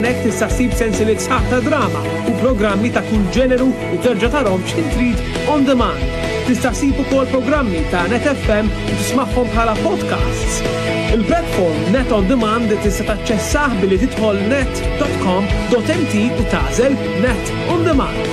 Hemmhekk tista' ssib sensieliet sħaħ ta' drama u programmi ta' kull ġeneru u terġa' tarhom x'ħin trid on demand. Tista' ssib ukoll programmi ta' Net FM u tismagħhom bħala podcasts. Il-platform Net on Demand tista' taċċessah billi tidħol net.com.mt u tagħżel Net on Demand.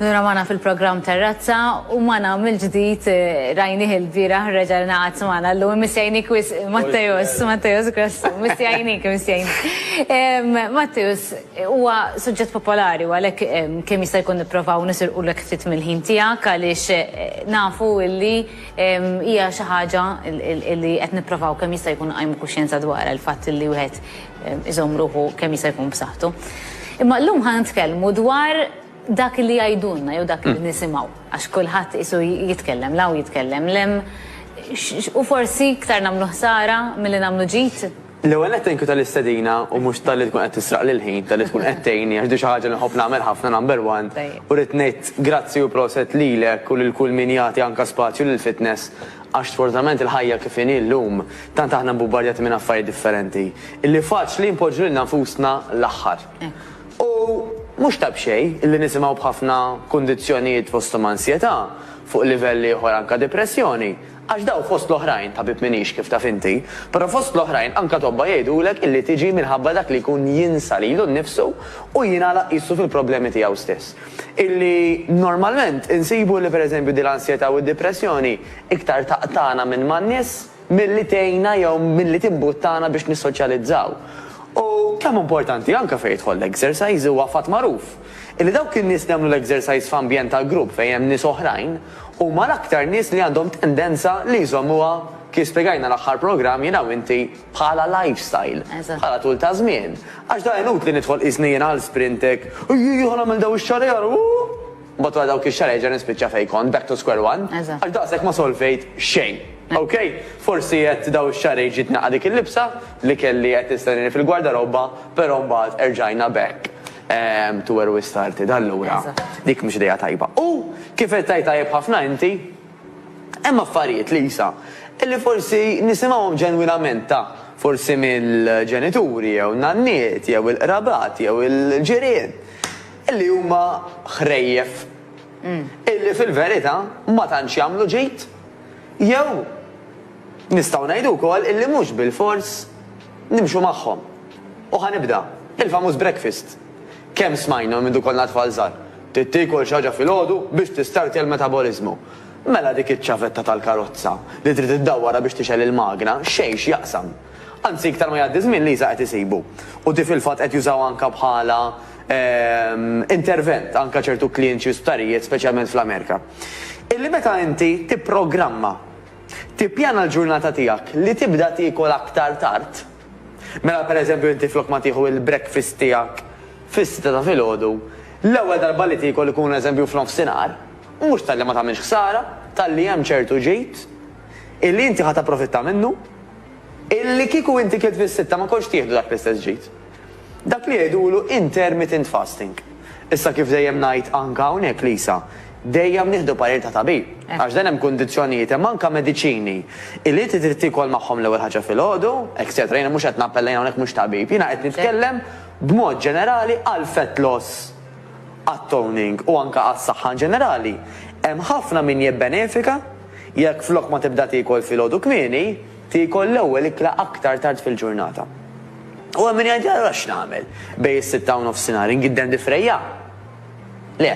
Nura magħna fil-programm Terrazza u magħna mill-ġdid rajnih il-bieraħ reġa' ngħaqad magħna llum imissjajnik wis Matteus, Matteus Grassu, missjajnik, missjajnik. Matteus, huwa suġġett popolari u għalhekk kemm jista' jkun nipprovaw nisirqulek ftit mill-ħin tiegħek għaliex nafu li hija xi ħaġa li qed nipprovaw kemm jista' jkun nqajmu kuxjenza dwarha l-fatt li wieħed iżomm ruħu kemm jista' jkun b'saħħtu. Imma llum ħa nitkellmu dwar dak li jgħidulna jew dak li mm. nisimgħu għax kulħadd isu jitkellem law jitkellem lem u forsi iktar nagħmlu ħsara milli nagħmlu ġid. L-ewwel qed tenku tal-istedina u mhux tal-li tkun qed tisraq lil ħin tal-li tkun qed tgħinni għax di xi ħaġa nħobb nagħmel ħafna number one u rrid ngħid grazzi u proset lilek u lil kull min jagħti anke spazju lill-fitness għax sfortunatament il-ħajja kif inhi llum Tant aħna mbubbarjati minn affarijiet differenti illi faċli npoġġu lilna nfusna l-aħħar. U mhux ta' b'xejn illi nisimgħu b'ħafna kundizzjonijiet fosthom ansjetà, fuq livell ieħor anke depressjoni, għax dawn fost l-oħrajn, tabib m'iniex kif taf inti, però fost l-oħrajn anke tobba jgħidulek illi tiġi minħabba dak li jkun jinsa lilu nnifsu u jingħalaq qisu fil-problemi tiegħu stess. Illi normalment insibu illi pereżempju din l-ansjetà u d-depressjoni iktar taqtagħna minn man-nies, milli tgħinna jew milli timbuttana biex nissoċjalizzaw. U kemm hu importanti, anke fejn jidħol l-exercise, huwa fatt magħruf illi dawk in-nies li jagħmlu l-exercise f'ambjent ta' grupp fejn hemm nies oħrajn huma l-aktar nies li għandhom tendenza li jżommuha, kif spjegajna l-aħħar programm jiena u inti, bħala lifestyle, bħala tul ta' żmien. Għax da inutli nidħol qisni jiena għal sprint hekk, ejjejja ħa nagħmel dawn ix-xagħar, ejja ara, ooh! Mbagħad wara dawk ix-xahar erġa' nispiċċa fejn kont, back to square one, għax daqshekk ma solvejt xejn. Ok? Forsi qed dawn ix-xahrejn ġiet naqgħad dik il-libsa li kelli qed tistennieni fil-gwardarobba, però mbagħad erġajna back to where we started. Allura, dik mhux idea tajba. U, kif qed tgħid tajjeb ħafna inti, hemm affarijiet, Lisa, li forsi nisimgħuhom ġenwinament ta' forsi mill-ġenituri jew nanniet jew il-qrabat jew il-ġirien. li huma ħrejjef illi fil-verità ma tantx jagħmlu ġid jew nistgħu ngħidu wkoll illi mhux bilfors nimxu magħhom. U ħa nibda, il-famuż breakfast. Kemm smajna mindu konna tfal żgħar, trid tiekol xi ħaġa filgħodu biex tistartja l-metaboliżmu. Mela dik iċ-ċavetta tal-karozza li trid iddawwarha biex tixgħel il-magna xejn x'jaqsam. Anzi iktar ma jgħaddi ż-żmien Lisa qed isibu. U di fil-fatt qed jużawha anke bħala intervent anke ċertu klinċi u sptarijiet speċjalment fl-Amerika, illi meta inti tipprogramma, tippjana l-ġurnata tiegħek li tibda tiekol aktar tard, mela per eżempju inti flok ma tieħu il-breakfast tiegħek fis-sitta ta' filgħodu, l-ewwel darba li tiekol ikun eżempju f'nofsinhar, mhux talli ma tagħmilx ħsara, talli hemm ċertu ġid illi inti ħa tapprofitta minnu, illi kieku inti kilt fis-sitta ma kontx tieħdu dak l-istess ġid. Dak li jgħidulu intermittent fasting. Issa kif dejjem ngħid anka hawnhekk Lisa, dejjem nieħdu parir ta' tabib. Għax dan hemm kundizzjonijiet, hemm anka mediċini illi inti trid tiekol magħhom l-ewwel ħaġa filgħodu, etcetera. Jiena mhux qed nappella jien hawnhekk mhux tabib, jiena qed nitkellem b'mod ġenerali għall-fat loss, għat-toning u anka għas-saħħa in ġenerali. Hemm ħafna min jibbenefika jekk flok ma tibda tiekol filgħodu kmieni, tiekol l-ewwel ikla aktar tard fil-ġurnata. U hemm min jgħidli allura x'nagħmel? Bejn is-sitta u nofsinhar ingiddem difrejja? Le.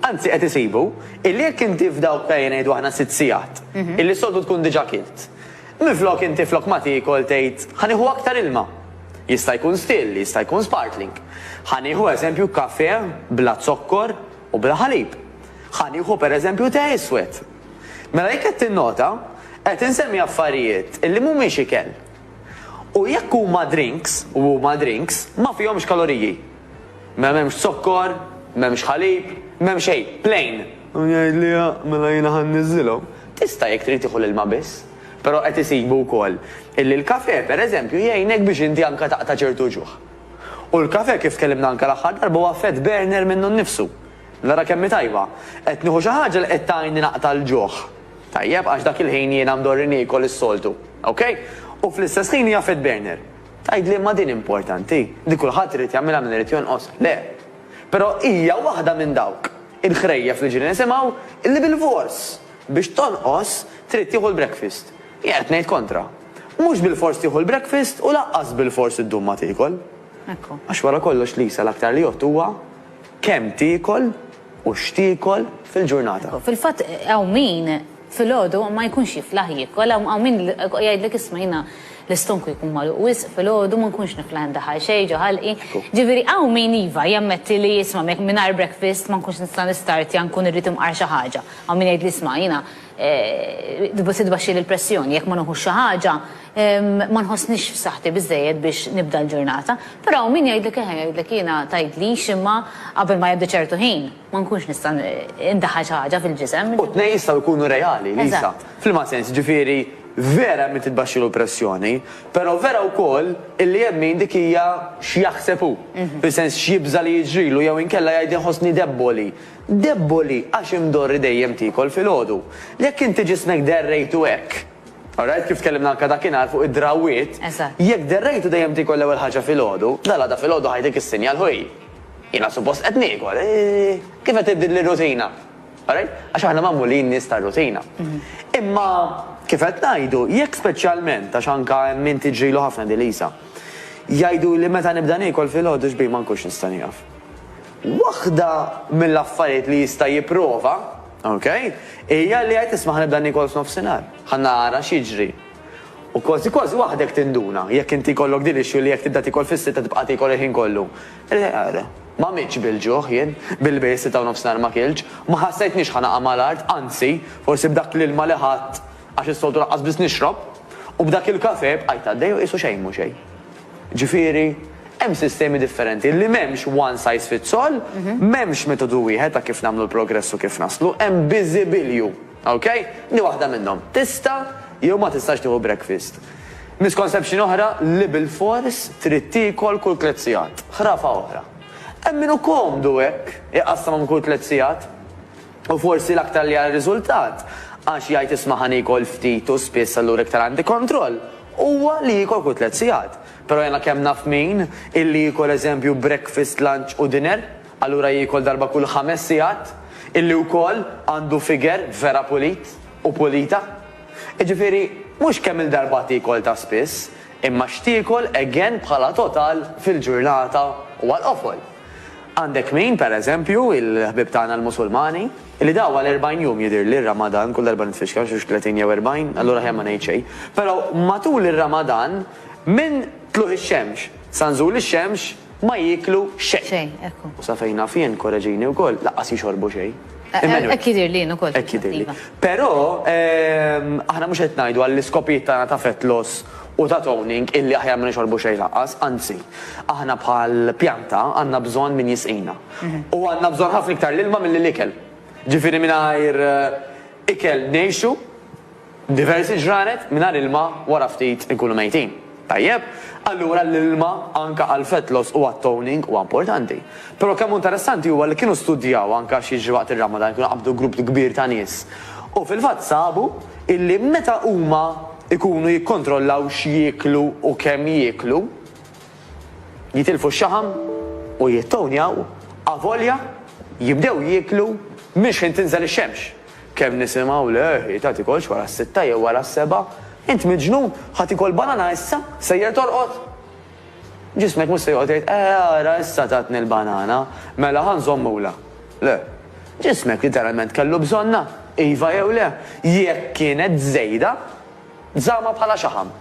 Anzi qed isibu illi jekk inti f'dawk ejja ngħidu aħna sitt sigħat, illi s-soltu tkun diġà kilt, minflok inti flok ma tiekol tgħid ħa nieħu aktar ilma. Jista' jkun still, jista' jkun sparkling. Ħa nieħu eżempju kafè bla zokkor u bla ħalib. Ħa nieħu pereżempju te iswed. Mela jekk qed tinnota, qed insemmi affarijiet illi mhumiex ikel. U jekk huma drinks, u huma drinks, ma fihomx kaloriji. Mela m'hemmx zokkor, m'hemmx ħalib, m'hemm xejn, plain. U jgħid li mela jiena ħa nniżżilhom. Tista' jekk trid tieħu l-ilma biss. Però qed isibu wkoll illi l-kafè, pereżempju, jgħinek biex inti anke taqta' ċertu ġuħ. U l-kafè kif tkellimna anke l-aħħar darba huwa fat burner minnu nnifsu. Nara kemm hi tajba! Qed nieħu xi ħaġa li qed tgħinni naqta' l-ġuħ. Tajjeb, għax dak il-ħin jiena mdorri niekol is-soltu. Ok? U fl-istess ħin hija fat burner. Tgħidli imma din importanti? Di kulħadd irid jagħmilha min irid jonqos? Le. Però hija waħda minn dawk il-ħrejjef li ġieli nisimgħu li bilfors biex tonqos trid tieħu l-breakfast. Jien qed ngħid kontra. Mhux bilfors tieħu l-breakfast u lanqas bilfors iddum ma tiekol. Għax wara kollox Lisa l-aktar li jgħodd huwa Kemm tiekol u x'tiekol fil-ġurnata? Fil-fatt hawn min filgħodu ma jkunx jiflaħ jiekol, hawn min jgħidlek isma' jiena l-istonku jkun magħluq wisq filgħodu ma nkunx niflaħ indaħħal xejn ġo ħalqi. Ġifieri hawn min iva jammetti li isma' mingħajr breakfast ma nkunx nista' nistartja nkun irrid imqar xi ħaġa. Hawn min jgħidli isma' jiena Se tbaxxili l-pressjoni, jekk ma nuħux xi ħaġa ma nħossnix f'saħħti biżżejjed biex nibda l-ġurnata. Però hawn min jgħidlek eħe, jgħidlek jiena tgħidlix imma qabel ma jgħaddi ċertu ħin ma nkunx nista' ndaħħal xi ħaġa fil-ġisem. U t-tnejn jistgħu jkunu reali, Lisa. F'liema sens? Jiġifieri vera hemm min titbaxxilu l-pressjoni, però vera wkoll illi hemm min dik hija x'jaħseb hu, fis-sens x'jibża' li jiġrilu jew inkella jgħid inħossni debboli. Deboli għax imdorri dejjem tiekol filgħodu. Jekk inti ġismek derrejtu hekk. Alright, kif tkellimna anke dakinhar fuq id-drawwiet. Eżatt. Jekk derrejtu dejjem tiekol l-ewwel ħaġa filgħodu, dalgħada filgħodu ħajtik is-sinjal, Ħuj, jiena suppost qed niekol. Kif qed tibdil lir-rutina? Alright? Għax aħna magħmulin nies tar-rutina. Imma kif qed ngħidu, jekk speċjalment, għax anke hemm min tiġrilu ħafna din l-qisha, jgħiduli meta nibda niekol filgħodu x'bih ma nkunx nista' nieqaf. Waħda mill-affarijiet li jista' jipprova, ok, hija li jgħid isma' ħa nibda niekol f'nofsinhar, ħa nara x'jiġri. U kważi kważi waħdek tinduna, jekk inti jkollok din l-issue li jekk tibda tiekol fis-sitta tibqa' tiekol il-ħin kollu. Ma mitx bil-ġuħ jien, billi bejn is-sitta u nofsinhar ma kiltx, ma ħassejtnix ħa naqa' mal-art, anzi, forsi b'dak l-ilma li ħadt, għax is-soltu lanqas biss nixrob, u b'dak il-kafè bqajt għaddej u qisu xejn mhu xejn. Ġifieri, hemm sistemi differenti li m'hemmx one size fits all, m'hemmx metodu wieħed ta' kif nagħmlu l-progress u kif naslu, hemm biżibilju. Ok? Di waħda minnhom. Tista' jew ma tistax tieħu breakfast. Misconception oħra li bilfors trid tiekol kull tliet sigħat. Ħrafa oħra. Hemm min hu komdu hekk, iqassam għom kull tliet sigħat. U forsi l-aktar li għal riżultat, għax jgħid isma' ħa niekol ftit u spiss allura iktar għandi kontroll, huwa li jiekol kull tliet sigħat. Però jiena kemm naf min, illi jiekol eżempju breakfast, lunch u dinner, allura jiekol darba kull ħames sigħat, illi wkoll għandu figure vera pulit u pulita. Jiġifieri, mhux kemm il-darba tiekol ta' spiss, imma x'tiekol again bħala total fil-ġurnata u għall-qofol. Għandek min, per eżempju, il-ħbieb tagħna l-Musulmani, li daw għal erbgħin jum jidhirli r-Ramadan, kull darba nitfixkel xi tletin jew erbgħin, allura aħjar ma ngħid xejn, però matul ir-Ramadan minn tlugħ ix-xemx sa nżul ix-xemx ma jieklu xejn. Xejn, ekku. U sa fejn naf jien, korreġini wkoll, lanqas jixorbu xejn. Emmanuel. Hekk jidhirli jien ukoll. Hekk jidhirli. Però aħna mhux qed ngħidu għall-iskopijiet tagħna ta' fett loss u ta' toning illi aħjar ma nixorbu xejn lanqas, anzi, aħna bħal pjanta għandna bżonn min jisqina. U għandna bżonn ħafna iktar l-ilma milli l-ikel. Ġifieri mingħajr ikel ngħixu diversi ġranet, mingħajr ilma wara ftit inkunu mejtin. Tajjeb? Allura l-ilma anke għall-fat loss u għat-toning huwa importanti. Però kemm hu interessanti huwa li kienu studjaw anke x'jiġri waqt ir-Ramadan, kienu qabdu grupp kbir ta' nies u fil-fatt sabu illi meta huma, ikunu jikkontrollaw x'jieklu u kemm jieklu, jitilfu x-xaħam u jittownjaw avolja jibdew jieklu minn xħin tinżel ix-xemx. Kemm nisimgħu le ħita tikolx wara s-sitta jew wara s-sebgħa, int miġnun, ħa tikol banana issa, sejjer torqod? Ġismek mhux se joqgħod jgħid, Eh, ara issa tatni l-banana, mela ħa nżommulha. Le. Ġismek literalment kellu bżonnha, iva jew le. Jekk kienet żejda, żammha bħala xaħam.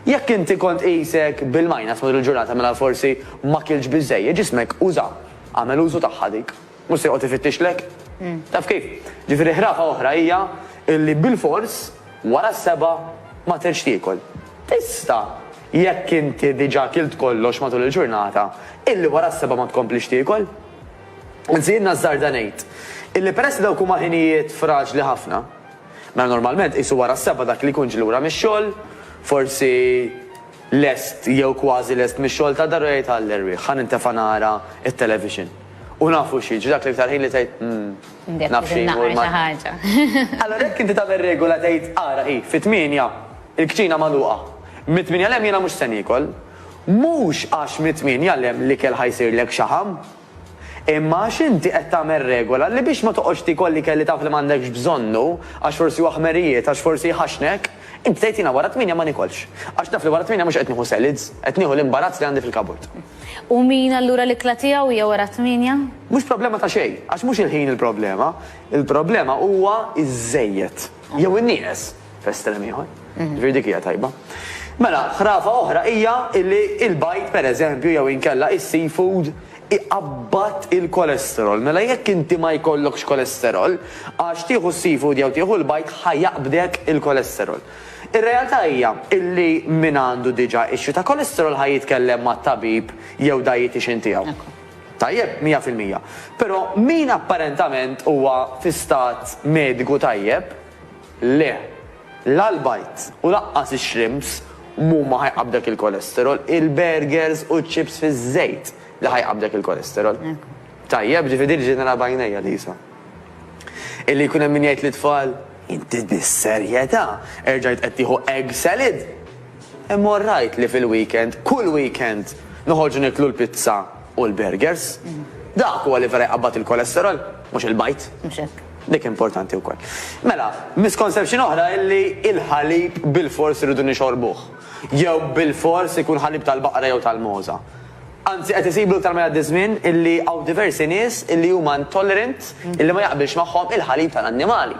Jekk inti kont qisek bil-minus matul il-ġurnata mela forsi ma kiltx biżżejjed, ġismek uża, għamel użu tagħha dik. Mhux se joqgħod ifittixlek. Taf kif? Ġifieri ħrafa oħra hija illi bilfors wara s-sebgħa ma tridx tiekol. Tista', jekk inti diġà kilt kollox matul il-ġurnata, illi wara s-sebgħa ma tkomplix tiekol. Anzi jien nażżarda ngħid illi peress li dawk huma ħinijiet fraġli ħafna, mela normalment qisu wara s-sebgħa dak li jkun ġie lura mix-xogħol, forsi, lest jew kważi lest mix-xogħol ta' dar u jgħid għall-erwieħ, ħa nintefa' nara t-television. U nafu xi jiġri, dak l-iktar ħin li tgħid, 'umm, naf xi jmur mal-. Allura jekk inti tagħmel regola tgħid, 'ara hi, fit-tmienja, il-kċina magħluqa. Mit-tmienja 'l hemm jiena mhux se niekol. Mhux għax mit-tmienja 'l hemm l-ikel ħa jsirlek xaħam. Imma għax inti qed tagħmel regola li biex ma toqgħodx tiekol l-ikel li taf li m'għandekx bżonnu għax forsi huwa ħmerijiet, għax forsi jħaxxnek, inti tgħid jiena wara t-tmienja ma niekolx. Għax naf li wara t-tmienja mhux qed nieħu selids, qed nieħu l-imbarazz li għandi fil-kaburt. U min allura l-ikla tiegħu hija wara t-tmienja? Mhux problema ta' xejn, għax mhux il-ħin il-problema. Il-problema huwa ż-żejjed. jew in-nieqes f'estrem ieħor. Ġifieri dik hija tajba. Mela, ħrafa oħra hija li l-bajd pereżempju jew inkella is-seafood iqabbad il-kolesterol. Mela jekk inti ma jkollokx kolesterol, għax tieħu s-seafood jew tieħu l-bajd ħa jaqbdek il-kolesterol. Ir-realtà hija li min għandu diġà issue ta' kolesterol ħa jitkellem mat-tabib jew dietician tiegħu. Tajjeb, mija fil-mija. Però min apparentament huwa fi stat mediku tajjeb, le. La l-bajd u lanqas ix-shrimps mhuma ħajqabdek il-cholesterol, il-burgers u ċ-chips fiż-żejt li ħajqabdek il-cholesterol. Tajjeb, ġifieri din ġejt nara b'għajnejja, Lisa. Illi jkun hemm min jgħid lit-tfal, Inti bis-serjetà erġajt qed tieħu egg salad? Imma orrajt li fil-weekend, kull weekend, noħorġu nieklu l-pizza u l-burgers. Dak huwa li vera jqabbad il-kolesterol, mhux il-bajd. Mhux hekk. Dik importanti wkoll. Mela, misconception oħra hi li l-ħalib bilfors irridu nixorbuh. Jew bilfors ikun ħalib tal-baqra jew tal-mogħża. Anzi qed isibu iktar ma jgħaddi ż-żmien illi hawn diversi nies illi huma intolerant illi ma jaqbilx magħhom il-ħalib tal-annimali.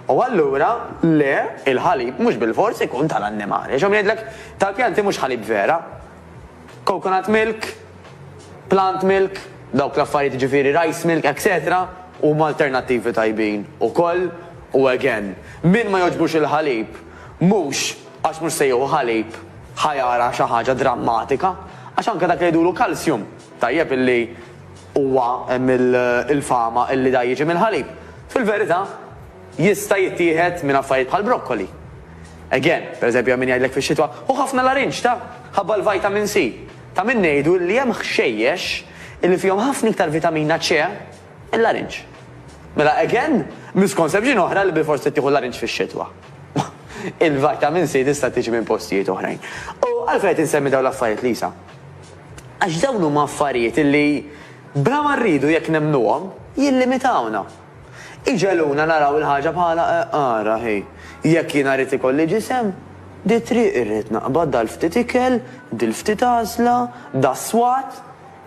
U allura le, il-ħalib mhux bilfors ikun tal-annimali. Għax hawn min jgħidlek tal-pjanti mhux ħalib vera. Coconut milk, plant milk, dawk l-affarijiet jiġifieri rice milk etc. Huma alternattivi tajbin ukoll u again, min ma jogħġbux il-ħalib mhux Għax mhux se jieħu ħalib ħa jara xi ħaġa drammatika, għax anke dak li jgħidulu calcium, tajjeb illi huwa hemm il-fama illi da jiġi mill-ħalib, fil-verità jista' jittieħed minn affarijiet bħal broccoli. Again, per eżempju hemm min jgħidlek fix-xitwa, hu ħafna l-arinġ ta? ħabba l-vitamin C. Ta' min ngħidu illi hemm ħxejjex illi fihom ħafna iktar vitamina C mill-arinġ. Mela again, misconception oħra li bilfors trid tieħu l-arinġ fix-xitwa. Il-vitamin C tista' tiġi minn postijiet oħrajn. U għalfejn qed insemmi dawn l-affarijiet, Lisa? Għax dawn huma affarijiet li bla ma rridu jekk nemmnuhom, jillimitawna. Iġegħluna naraw il-ħaġa bħala ara hi, jekk jiena rrid ikolli ġisem, di t-triq irrid naqbad dal-ftit ikel, dil-ftit għażla, das-swat.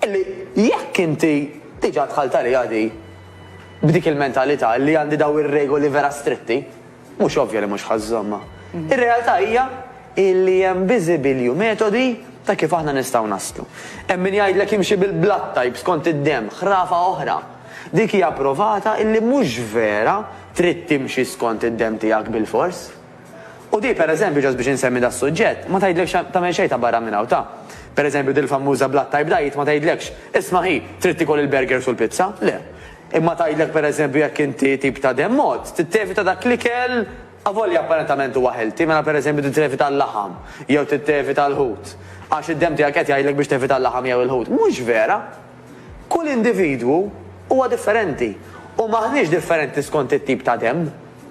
Illi jekk inti diġà dħalt għaliha di b'dik il-mentalità li għandi dawn ir-regoli vera stritti, mhux ovvja li mhux ħa żżommha. Ir-realtà hija illi hemm biżibilju metodi ta' kif aħna nistgħu naslu. Hemm min jgħidlek imxi bil-blood type skont id-demm, ħrafa oħra. Dik hija provata illi mhux vera trid timxi skont id-demm tiegħek bilfors. U di, per eżempju, just biex insemmi das-suġġett, ma tgħidlekx tagħmel xejn ta' barra minn hawn ta'. Per eżempju, dil-fammuża Blood Type Diet ma tgħidlekx, isma' hi, trid tiekol il-burgers u l-pizza, le. Imma tgħidlek per eżempju jekk inti tip ta' demm għodd, trid tevita dak l-ikel avolja apparentament huwa healthy, mela per eżempju trid tevita l-laħam jew trid tevita l-ħut għax id-demm tiegħek qed jgħidlek biex tevita l-laħam jew il-ħut. Mhux vera! Kull individwu huwa differenti u m'aħniex differenti skont it-tip ta' demm.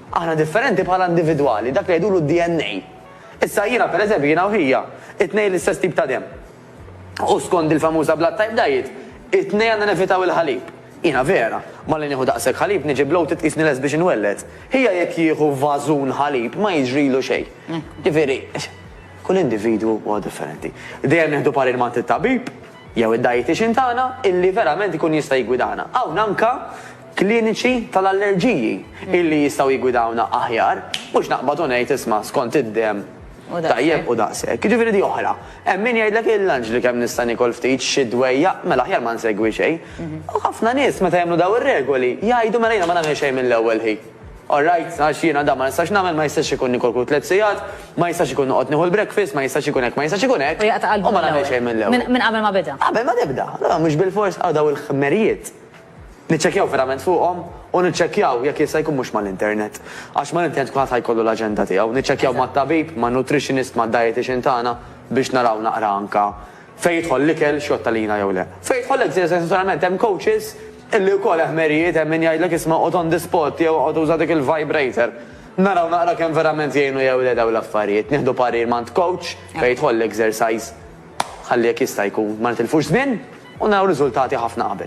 Aħna differenti bħala individwali, dak li jgħidulu d-DNA. Issa jiena, pereżempju, jiena u hija, it-tnejn l-istess tip ta' demm. U skond il-famuża blood type diet, it-tnejn għandna nevitaw il-ħalib. Jiena vera, malli nieħu daqshekk ħalib niġi bloated tqisni lest biex inwelled. Hija jekk jieħu vażun ħalib ma jiġrilu xejn. Ġifieri, kull individwu huwa differenti. Dejjem nieħdu parir m'għand it-tabib. Jew id-dietician tagħna illi verament ikun jista' jiggwidana. Hawn anke kliniċi tal-allerġiji illi jistgħu jiggwidawna aħjar, mhux naqbad u ngħid isma' skont id-demm tajjeb u daqshekk. Jiġifieri di oħra. Hemm min jgħidlek il-lunch li kemm nista' niekol ftit, xi dwejjaq, mela aħjar ma nsegwi xejn. U ħafna nies meta jagħmlu dawn ir-regoli jgħidu mela jiena ma nagħmel xejn mill-ewwel hi. All right, għax jiena dan ma nistax nagħmel, ma jistax ikun nikorku tliet sigħat, ma jistax ikun noqgħod nieħu l-breakfast, ma jistax ikun hekk, ma jistax ikun hekk, u ma nagħmel xejn mill-ewwel. Minn qabel ma beda. Qabel ma tibda. Allura mhux bilfors hawn dawn il-ħmerijiet niċċekkjaw verament fuqhom u niċċekkjaw jekk jista' jkun mhux mal-internet. Għax mal-internet kulħadd ħa jkollu l-aġenda tiegħu. Niċċekkjaw mat-tabib, man-nutritionist, mad-dietician tagħna biex naraw naqra anke Fejn jidħol l-ikel, x'jgħodd għalina jew le. Fejn jidħol l-eżerċizzju, naturalment hemm coaches illi wkoll eħmerijiet, hemm min jgħidlek isma' oqgħod on the spot jew oqgħod uża dik il-vibrator. Naraw naqra kemm verament jgħinu jew le dawn l-affarijiet. Nieħdu parir m'għand coach fejn jidħol l-exercise ħalli jekk jista' jkun ma nitilfux żmien u naraw riżultati ħafna qabel.